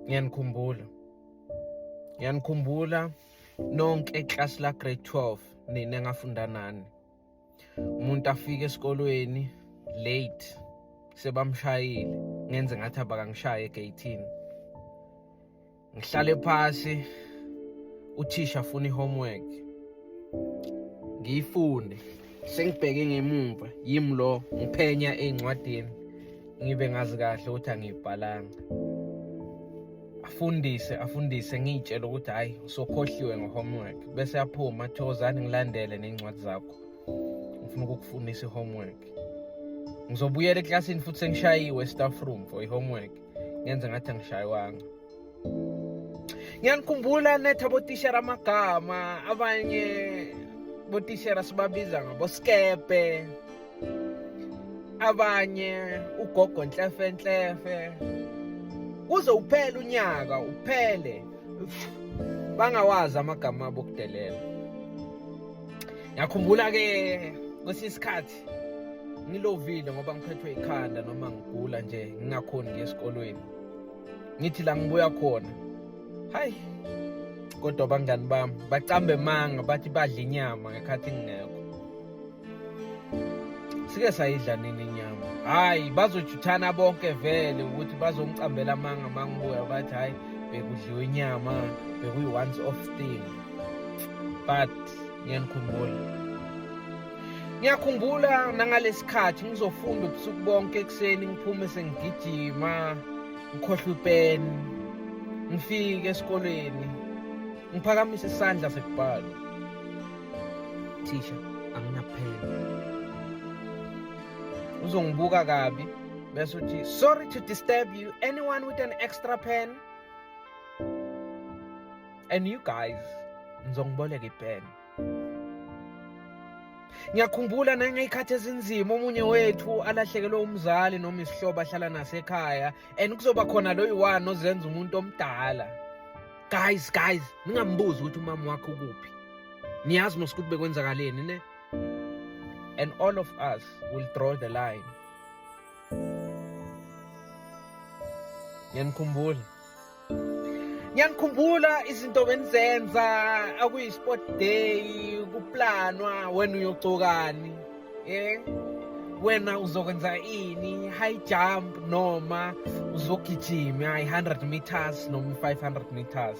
ngiyanikhumbula ngiyanikhumbula nonke eclass la grade 12 nina engafunda nani umuntu afike esikolweni late sebamshayile ngenze ngathi abakangishaye egeyithini ngihlale phasi uthisha afuna i-homework ngiyifunde sengibheke ngemumva yimi lo ngiphenya ey'ncwadini ngibe ngazi kahle ukuthi angiyibhalanga afundise afundise ngiyitshele ukuthi hhayi usokhohliwe nge-homework bese aphuma thokozani ngilandele ney'ncwadi zakho ngifuna ukukufundisa i-homework ngizobuyela eklasini futhi sengishayiwe staff room for i-homework ngenze ngathi angishayiwanga ngiyanikhumbula netha botishera amagama abanye botishera sibabiza ngaboskebhe abanye ugogo nhlefe nhlefe kuze uphele unyaka uphele bangawazi amagama abo kudelela ngiyakhumbula ke kwesinye isikhathi ngilovile ngoba ngiphethwe ikhanda noma ngigula nje ngingakhoni ngiye esikolweni ngithi la ngibuya khona hayi kodwa abangani bami bacambe manga bathi badla inyama ngekhathi ngingekho sike sayidla nini inyama hayi bazojuthana bonke vele ukuthi bazongicambela amanga mangibuya bathi hayi bekudliwe inyama bekuyi-once off thing but ngiyanikhumbula ngiyakhumbula nangalesikhathi ngizofunda ubusuku bonke ekuseni ngiphume sengigijima ngikhohlwe ipeni ngifike esikoleni ngiphakamise isandla sekubhala thisha anginaphela uzongibuka kabi bese uthi sorry to disturb you anyone with an extra pen and you guys ngizongiboleka ipeni Ngiyakhumbula nangey'khathi ezinzima omunye wethu alahlekelwe umzali noma isihlobo ahlala nasekhaya and kuzoba khona loyi wani ozenza umuntu omdala. Guys, guys, ningambuzi ukuthi umama wakho kuphi. Niyazi mos ukuthi bekwenzakaleni ne? And all of us will draw the line. Ngiyanikhumbula. ngiyanikhumbula izinto benizenza akuyi-sport day kuplanwa wena uyogcokani um wena uzokwenza ini high jump noma uzogijima i-100 meters noma i-500 meters